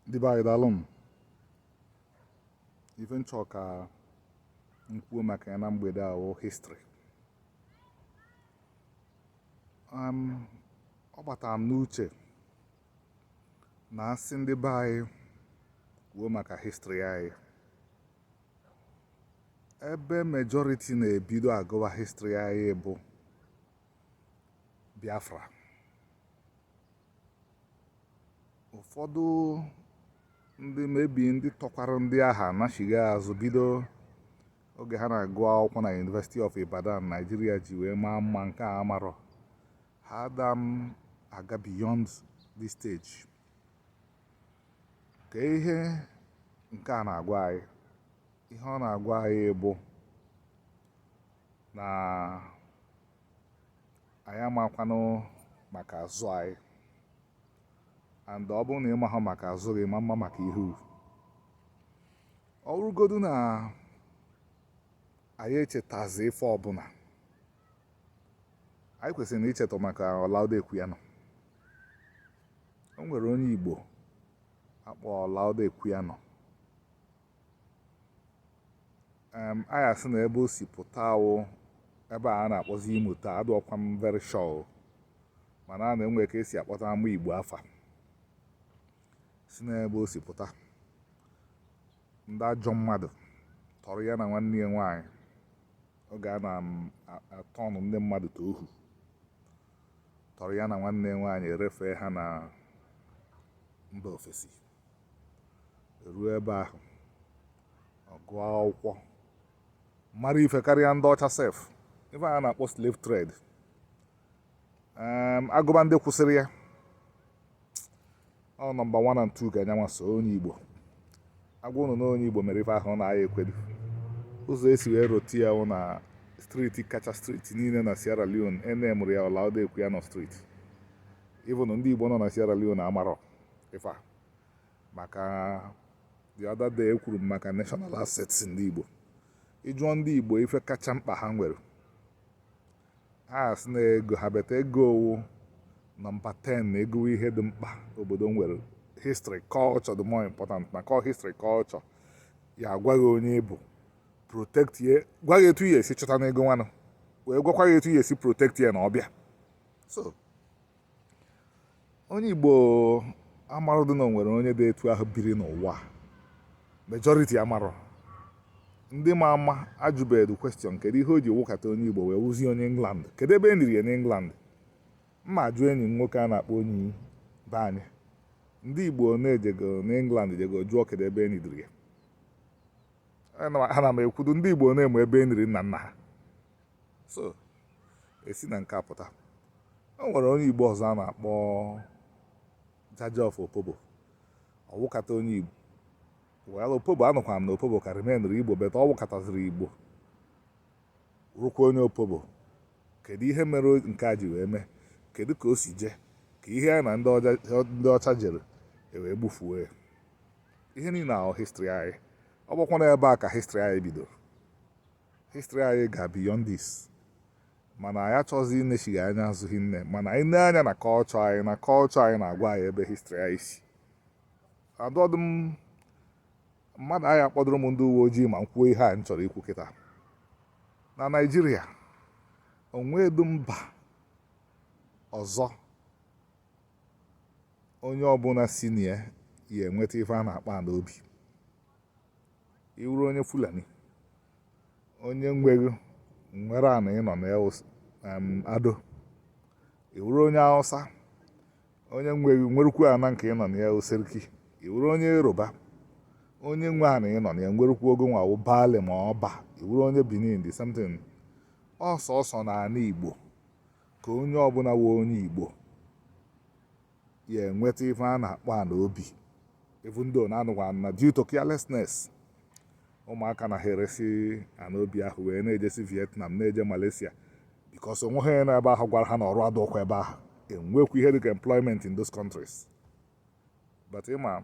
ndị be anyị daalụnụ ife m chọọ ka m kwuo maka ya na mgbede a wụ history ọ gbatara m n'uche na a sị ndị be anyị kwuo maka history anyị ebe majority na-ebido agụwa history anyị bụ Biafra ụfọdụ ndị maybe ndị tọkwara ndị a ha nachigha azụ bido oge ha na-agụ akwụkwọ na University of Ibadan Nigeria ji wee maa mma nke a amarọ ha ada aga beyond this stage kee ihe nke a na-agwa anyị ihe ọ na-agwa anyị bụ na anyị amakwanụ maka azụ anyị and ọ bụrụ na ị mahụ maka azụ gị ị ma ama maka ihu ọ bụrụgodu na anyị echetazi ife ọbụla anyị kwesịrị na icheta maka Olaudah Equiano o nwere onye Igbo a kpọ Olaudah Equiano um anyị asị na ebe o si pụta wụ ebe a na-akpọzi Imo taa adịọkwa m very sure mana a na-enwe ka e si akpọta ama igbo afa si n'ebe o si pụta ndị ajọ mmadụ tọrọ ya na nwanne ya nwaanyị oge a na-atọnụ ndị mmadụ ka ohu tọrọ ya na nwanne ya nwaanyị e refee ha na mba ofesi eruo ebe ahụ ọ gụọ akwụkwọ mara ife karịa ndị ọcha sef ife a na-akpọ slave trade Em, a gụba ndị kwụsịrị ya ọ nọmba 1 and 2 ka nya nwa so onye igbo a gwa ụnụ na onye igbo mere ife ahụ ụnụ aya-ekwedu ụzọ e si wee rote ya wụ na street kacha street niile na sierra leone e name-ụrụ ya Olaudah Equiano Street even ndị igbo nọ na sierra leone amarọ ife a maka the other day ekwuru m maka national assets ndị Igbo ị jụọ ndị Igbo ife kacha mkpa ha nwere ha sị na ego ha but ego wụ nọmba 10 na ịgụ ihe dị mkpa obodo nwere history culture dị more important maka history culture ya-agwa gị onye ị bụ protect ye gwa gị etu ị ya-esi chọtanụ ego nwanụ wee gwakwa gị etu ị ya-esi protect ye na ọbịa so onye Igbo amarụdụ na o nwere onye dị etu ahụ biri n'ụwa majority amarọ ndị ma ama ajụbedu question kedu ihe o ji wụkata onye Igbo wee wụzie onye England kedu ebe e niri ya n'England m ma-ajụ enyi m nwoke a na-akpọ onye be anyị ndị Igbo na-ejego n'England jego jụọ kedu ebe e nidiri ya ana m ekwudu ndị Igbo na-eme ebe e niri nna nna ha so e si na nke a pụta o nwere onye igbo ọzọ a na-akpọ jaja of opobo ọ wụkata onye igbo well opobo anụkwa m na opobo ka remainụrụ igbo but ọ wụkataziri igbo wụkwa onye opobo kedu ihe mere nke a ji wee mee kedu ka o si jee ka ihe ya na ndị ọcha jere e wee gbufuo ya ihe niile a wụ history anyị ọ bụkwa na ebe a ka history anyị bidoro history anyị ga beyond this mana anyị achọghịzị inechigha anya azụ hinne mana anyị nee anya na culture anyị na culture anyị na-agwa anyị ebe history anyị si adọdụ mmadụ ya-akpọdụrụ m ndị uwe ojii ma m kwuo ihe a m chọrọ ikwu kịta na Nigeria o nwedu mba ọzọ onye ọbụla si na ya ya-enweta ife a na-akpọ ana obi ị wụrụ onye fulani onye nwe gị nwere ana ị nọ na ya Ardo ị wụrụ onye hausa onye nwe gị nwerukwu ana nke ị nọ na ya ọ seriki ị wụrụ onye yoruba onye nwe ana ị nọ na ya nwerukwu gị nwa wụ baale ma ọba ị wụrụ onye benin the same thing ọ sọsọ na ana igbo ka onye ọbụla wụ onye igbo ya-enweta ife a na-akpọ ana obi even though na-anụkwa na due to carelessness ụmụaka na ha eresi ana obi ahụ wee na-ejesi Vietnam na-eje Malaysia because o nweghị onye nọ ebe ahụ gwara ha na ọrụ adọkwa ebe ahụ enwekwu ihe dịka employment in those countries but ị ma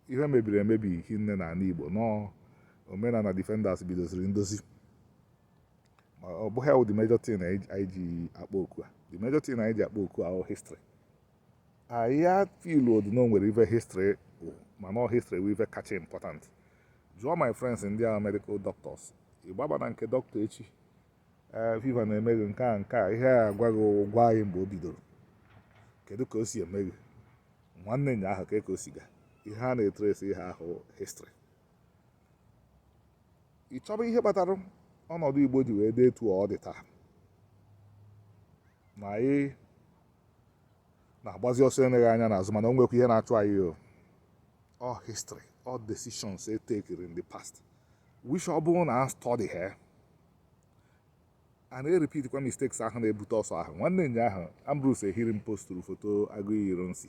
ihe mebiri emebi hinne na ana Igbo na omenala defenders bidoziri ndozi ọ bụghị ya wụ the major thing anyị ji akpọ oku a the major thing anyị ji akpọ oku a wụ history anyị afeelụọdụ na o nwere ife history mana history wụ ife kacha important jụọ my friends ndị wụ medical doctors ị gbaba na nke dọkịta echi ee fever na-eme gị nke a nke a ihe a agwa gị wụ gwa anyị mgbe o bidoro kedu ka o si eme gị nwanne nya ahụ ka ka o si ga ihe a na-etresi ihe a wụ history ị chọba ihe kpatara ọnọdụ Igbo ji wee dị etu ọ dị taa na anyị na-agbazi ọsọ eleghị anya n'azụ mana o nwekwa ihe na-achụ anyị o all history all decisions e tekiri in the past which ọ bụrụ na a studyghị ya a na-erepeat kwa mistakes ahụ na-ebute ọsọ ahụ nwanne anyị ahụ Ambrose Ehirim posturu foto Aguiyi Ironsi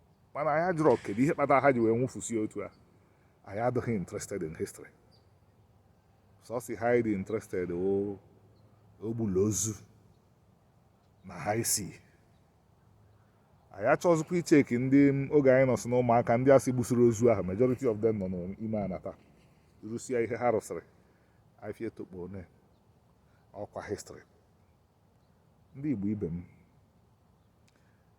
mana anyị ajụrọ kedu ihe kpatara ha ji wee nwụfusie otu a anyị adịghị interested in history sọsọ ihe a dị interested ọ o gbula ozu na ha isi anyị achọzikwa icheki ndị oge anyị nọsị na ụmụaka ndị a sị gbusiri ozu ahụ majority of them nọ n'ime ana taa rụsịa ihe ha rụsịrị afia etokpo one ọkwa history ndị igbo ibe m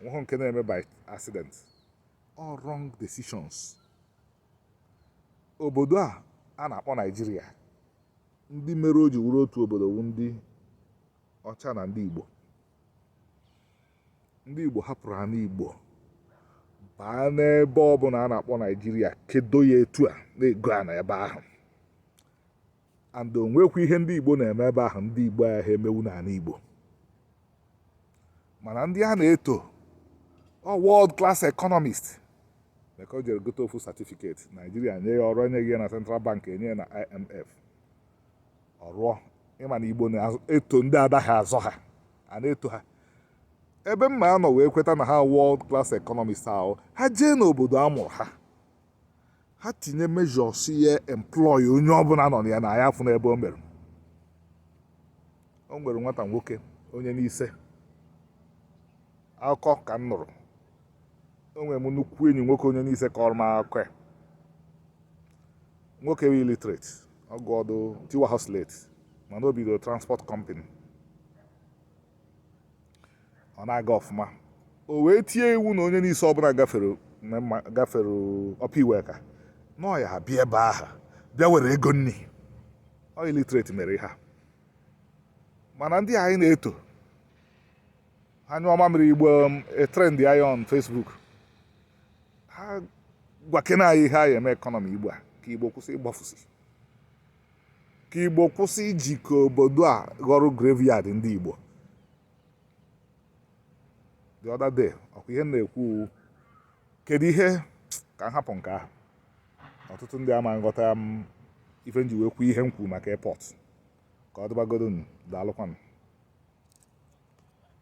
nweghị nke na-eme by accident all wrong decisions obodo a a na-akpọ naijiria ndị mere o ji wuru otu obodo wu ndị ọcha na ndị igbo ndị igbo hapụrụ ana igbo baa n'ebe ọbụla a na-akpọ naijiria kedo ya etu a na-ego ana ebe ahụ and o nwekwa ihe ndị Igbo na-eme ebe ahụ ndị Igbo ahụ ha emewu n'ana Igbo mana ndị a na-eto ọ world class economist maka o jere gote ofu certificate Naijiria nye ya ọrụ enyeghị ya na Central Bank enye ya na IMF ọ rụọ ị ma na Igbo na-eto ndị adaghị azọ ha a na-eto ha ebe m ma-anọ wee kweta na ha world class economist ahụ ha jee n'obodo a mụrụ ha ha tinye measures ya employ onye ọbụla nọ na ya na anyị afụ n'ebe o mere o nwere nwata nwoke onye Nise akụkọ ka m nụrụ o nwere m nnukwu enyi nwoke onye Nise kọrọ m akụkọ ya nwoke bụ illiterate ọ gụọdụ tiwaha slate mana o bidoro transport company ọ na-aga ọfụma o wee tie iwu na onye Nise ọbụla gafere Upper Iweka na ọ ya abịa ebe ahụ bịa were ego nri ọ illiterate mere ihe a mana ndị anyị na-eto ha nyụọ mamịrị igbo e trend ya on Facebook ha gwakena anyị ihe a ya-eme economy igbo a ka igbo kwụsị ịgbafusi ka igbo kwụsị iji ka obodo a ghọrọ graveyard ndị igbo the other day ọkwa ihe m na-ekwu kedu ihe ka m hapụ nke ahụ ọtụtụ ndị ama aghọta ife m ji wee kwuo ihe m kwuru maka airport ka ọ dịbagodo daalụkwanụ